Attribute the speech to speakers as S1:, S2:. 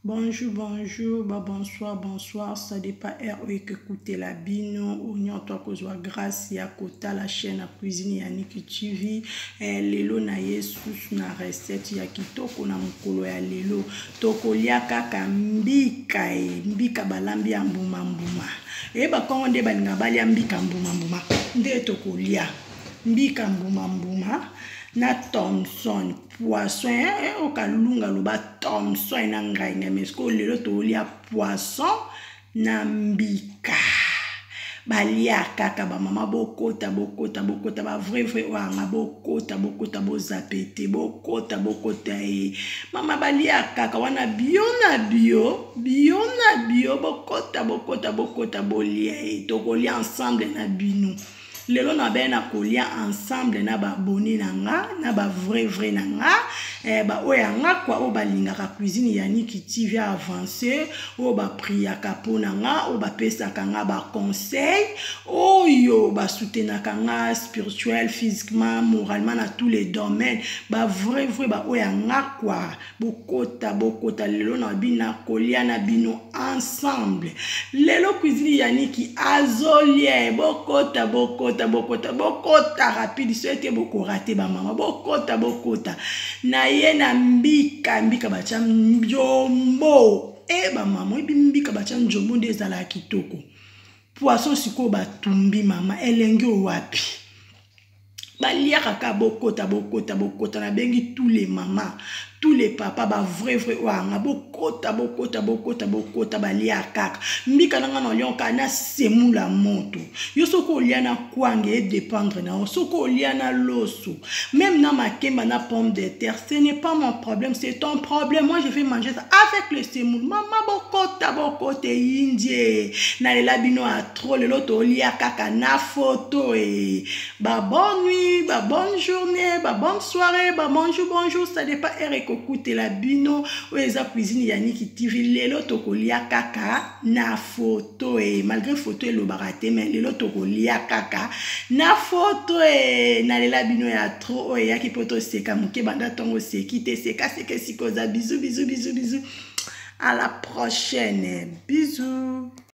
S1: Bonjour, bonjour, bah bonsoir, bonsoir. Ça dépend heure où que écouter la bino. Ou non, toi, que soit grâce à Kota, la chaîne à cuisine Yannick TV. Eh, lelo na yesus na recette ya kitoko na mokolo ya lelo. Tokolia kaka mbika e, mbika balambi ya mbuma mbuma. Eba kongo nde balinga balia mbika mbuma mbuma. Nde tokolia. mbika mbuma mbuma na thomson poisson eh, eh, okalunga loba thomson na ngai ngai mais sikoyo lelo tolia poisson na mbika balia kaka bamama bokota bokota bokota bavrai vrai oyo anga bokota bokota bozape te bokota bokota ye eh. mama balia kaka wana bio na bio bio na bio bokota bokota bokota bolia ye eh. tokolia ensemble na bino lelo na baya na kolia ensemble na baabone na nga na bavrai vrai na nga eh, baoyo ya nga kua oyo balingaka cuisine ya niki tv avance oyo bapriaka mpo na nga oyo bapesaka nga baconseil oyo basutenaka nga spirituel physiquement moralement na tous les domaines bavrai vrai baoyo ya nga kua bokota bokota lelo na bina kolia na bino ensemble lelo cuisine ya niki azolie bokota bokota bokota bokota rapide so ete bokorate bamama bokota bokota na ye na mbika mbika batya mbiombo e eh, bamama oyebi mbika batya njombo nde ezalaka kitoko poisson sikoyo batumbi mama elengi owapi baliaka kaka bokota bokota bokota nabengi tous les mama tous les papa bavrai vrai oyo anga bokota bokota bokota bokota baliaka kaka mbika na ngai naliaka na semula moto yo soki olia na kwanga edépendre na yo soki olia na loso même na makemba na pomme de terre ce n'est pas mon problème c'est ton problème moi je vais manger ça avec le semoule mama bokota bokota eyindie nalela bino trop lelo tolia kaka na foto e ba bonne nuit ba bonne journée ba bonne soirée ba bonjour bonjour ça dépend heure ekokutela bino oyo eza cuisine ya niki tv lelo tokolia kaka na foto e malgré foto elobaka te mais lelo tokolia kaka na foto e nalela bino ya trop oyo eyaki mpo toseka moke banda ntongo oseki te seka seka esika oza bizu bizu bizu bizu à la prochaine bisous